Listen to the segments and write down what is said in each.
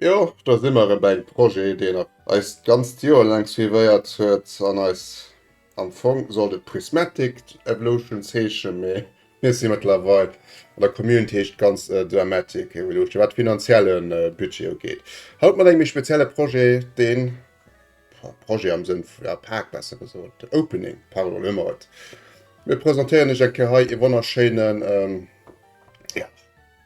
Jo, do si mer erëm bei engem Projet, deen eis d'ganzt Joer laang suivéiert huet an eis am Fong sollt e Prismatic Evolutions heeschen, mee mir si mëttlerweil an der Community heescht d'ganzt Dramatic Evolution, wat de finanzielle Budget ugeet. Haut mat engem méi spezielle Projet, deen, Projet am Sënn vu, ja, Pak besser gesot, Opening, pardon, elo hu mer et. Mir presentéieren iech eng Kéier hei ee wonnerschéinen, ja.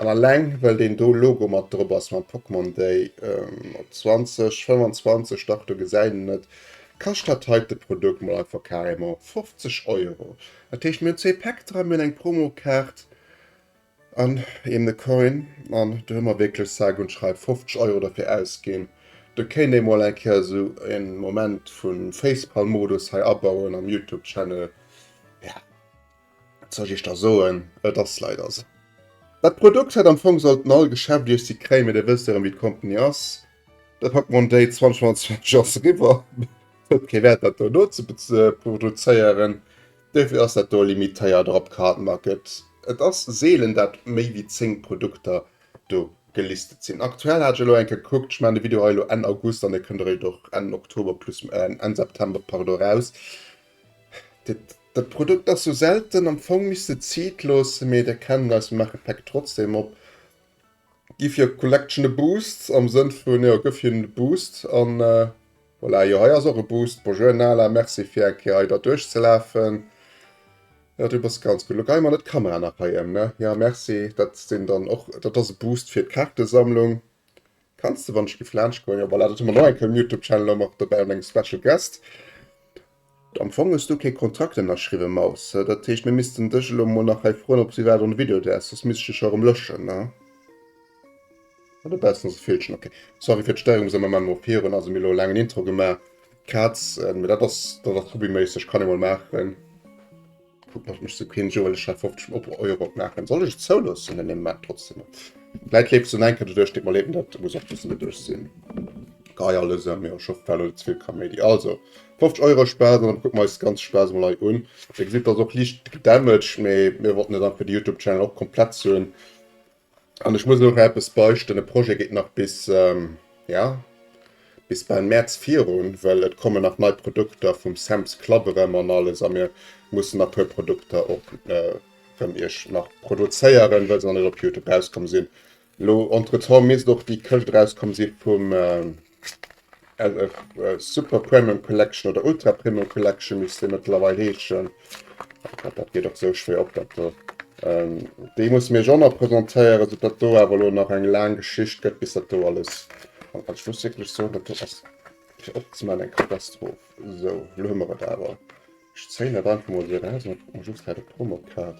An alleng well deen do Logo mat drop ass mam Pokemon Day op 20, 25, dach do gesäit een et, kascht dat heite Produkt mol einfach carrément 50 Euro. Dat heescht mir hunn zwee Päck dran, mir hunn eng Promokaart an eben e Coin an do hu mer wierklech sage und schreibe 50 Euro derfir ausginn. Do kéint ee mol eng Kéier esou e Moment vu Facepalm-Modus hei abauen am Youtube-Channel. Wat soll ech iech da soen, et ass leider esou. Dat Produkt hätt am Fong sollten all Geschäft iech si kréien, mee da wësst der erëm wéi d'Company ass, dat Pokémon Day 2025 ass eriwwer, et huet kee Wäert dat do nozeproduzéieren, dofir ass dat do limitéiert drop Cardmarket. Et ass seelen dat méi wéi 10 Produkter do gelistet sinn. Aktuell hat ech elo eng Kéier gekuckt, ech maachen de Video hei elo Enn August an e kënnt eréischt och Enn Oktober plus Enn September, pardon, eraus. Dat Produkt ass sou selten, am Fong misst de et Zit loossen, mee der kennt eis, maache Päck trotzdem op, giff hier Collection e Boost am Sënn vun jo gëff hinnen e Boost an voilà. Jo hei ass och e Boost, Bonjour Nala, merci fir eng Kéier hei der duerch ze lafen. Jo du bass ganz gutt, lo geie mer net d'Kamera nach hei em ne, jo merci. Dat sinn dann och, dat ass e Boost fir d'Kaartesammlung, Kanns de wann ech géif laanscht goen. Jo voilà, dat hu mer nach eng Kéier um Youtube Channel och mat dobäi an engem Special Guest. Am Fong hues du kee Kontrakt ënnerschriwwen Maus, dat heescht mir missten dech elo mol nach hei froen ob s iwwerhaapt an de Video däerfs, soss misst ech dech jo erëm löschen ne? Ah do baus nus e Feelchen, ok. Sorry fir d'Stéierung, sou mer man mol virun, also mir hu elo e laangen Intro gemaach, Kazen, mee dat ass dat ass hobbyméisseg, kann ee mol maachen. Guck nach mech so keen Joel ech hat 15 op Euro machen soll ech zouloossen an dem Markt trotzdem Läit lebt so enke du duerch mal leben dat muss auch bis net duerch sinn Gei alles an mir scho fell oder zwill Kaméidi also 50 Euro Spaß an guck meis ganz Spaß mal hei un Dir gesitt ass och liicht gedamaged mee mir wollten net einfach de Youtube Channel och komplett zuen An ech muss nach eppes beichten, e Projet geet nach bis, ja, bis bal Mäerz virun, well et kommen nach nei Produkter vum Sam's Club erëm an alles a mir mussen nach e puer Produkter och erëm iech nach produzéieren, well se nach net op Youtube rauskomm sinn. Elo entretemps misst och déi Këscht rauskomm si vum Super Premium Collection oder Ultra Premium Collection misst dee mëttlerweil heeschen. Dat geet och sou schwéier op dat do. Ähm, déi muss mir jo nach presentéieren, sou dat do awer lo nach eng laang Geschicht gëtt bis dat do alles. An ech muss wierklech soen, dat do ass fir opzemaachen eng Katastroph. Sou, lo hu mer et awer. Ech zéihen dat einfach mol esou eraus an kuck mol just wat op d'Rumm op d'Kaart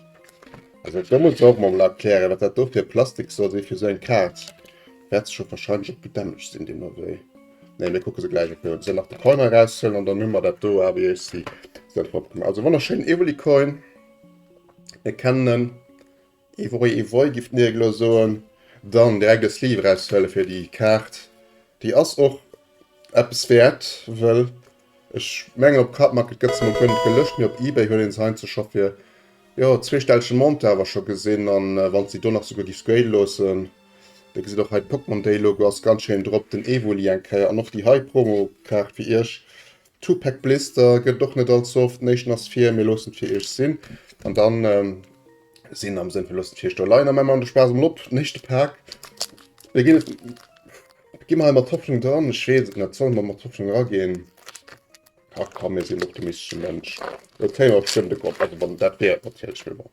ass. Ech muss och mol erklären wat dat do fir Plastik soll si fir esou eng Kaart. Wärt sech och wahrscheinlech op gedämmeg sinn deem Ewee. Nee mir kucke se gläich op firwat ech dann nach de Coin eraus huelen an dann hu mer dat do a wéi ech si selwer op gemaach. Also wonnerschéin Evelycoin. Mir kennen en. Et wor ee Voi giff d'Nier elo soen. Dann direkt e Sleeve eraushuelen fir déi Kaart. Déi ass och eppes wäert, wëll ech mengen op Cardmarket gëtt se mol guer net gelëscht, mee op Ebay huet een se heiandsdo scho fir jo zweestellege Montë awer scho gesinn. An wann s de déi do nach souguer giffs gradë loossen, dir gesitt och hei d'Pokémon Day Logo ass ganz schéin drop, den Evoli eng Kéier an och déi hei Promo Kaart fir iech. Tupac Blister gëtt et och net allze oft. Den éischten ass vir Mir loossen et fir iech sinn. An dann sinn am Sënn vun loossen et fir iech do leien. A mä mer de Spaass emol op den éischte Pak. Mir ginn et, gi mer hei mat Hoffnung dran. Ech weess et net, solle mer mat Hoffnung eraginn? Ach komm, mir sinn en optimistesche Mënsch. Et kéim awer bestëmmt e Gopp, also wann et dat wier natierlech, mee bon.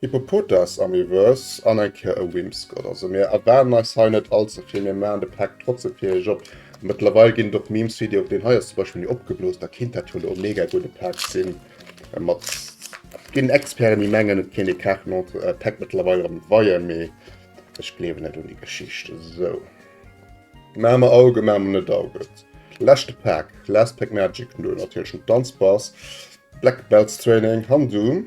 Hippopotas am Reverse an eng Kéier e Whimsicott. Also mir erwaarden eis hei net allze vill, mir maachen de Pack trotzem fir iech op. Mëttlerweil ginn et och Memes wéi dee, deen hei ass zum Beispill méi opgeblooss, da kinnt dat jo elo e mega gudde Pack sinn. Mat ginn Experten, déi mengen et kéint ee Carte Montre äh, Pack mëttlerweil erëm weien, mee ech gleewen net un déi Geschicht. Esou. Maache mer Auge, maache mer net Auge. Leschte Pack, Last Pack Magic, no natierlechem Danzbass, Black Belts Training, Handu.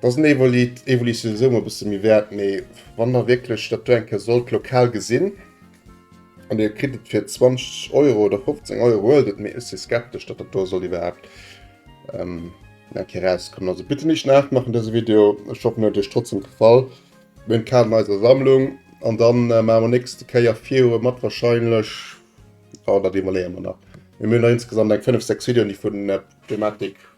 Dass en Evolit, Evolit sinn esou mol e bësse méi wäert, mee wann der wierklech dat do eng Kéier sollt lokal gesinn an dir kritt et fir 20 Euro oder 15 Euro, huelt et, mee ech si skeptesch, datt dat do soll iwwerhaapt ähm, eng Kéier erauskommen. Also bitte nicht nachmachen dëse Video, ech hoffen et huet iech trotzdem gefall. Mir hunn d'Kaarten an eiser Sammlung an dann äh, maache mer nächste Kéier virue mat wahrscheinlech, oh, dat iwwerleeë mer nach. Mir hunn nach insgesamt eng 5, 6 Videoen, déi vun äh, Thematik.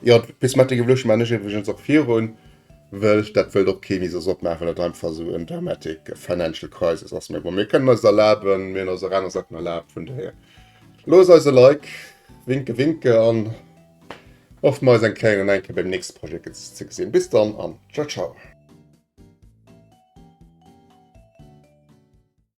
Jo, d'Prismatic Evolution man ech iwwregens och virun, wëll ech dat wëllt och kee mi soss opmaachen, well dat einfach esou en dramatic financial crisis ass. Mee bon, mir kënnen eis erlaben, mir hunn eis och aner Saachen erlaabt, vun dohier loosst eis e Like, winke winke, an hofft mer eis eng Kéier an eng Kéier beim nächste Projet ze gesinn. Bis dann an tschau tschau.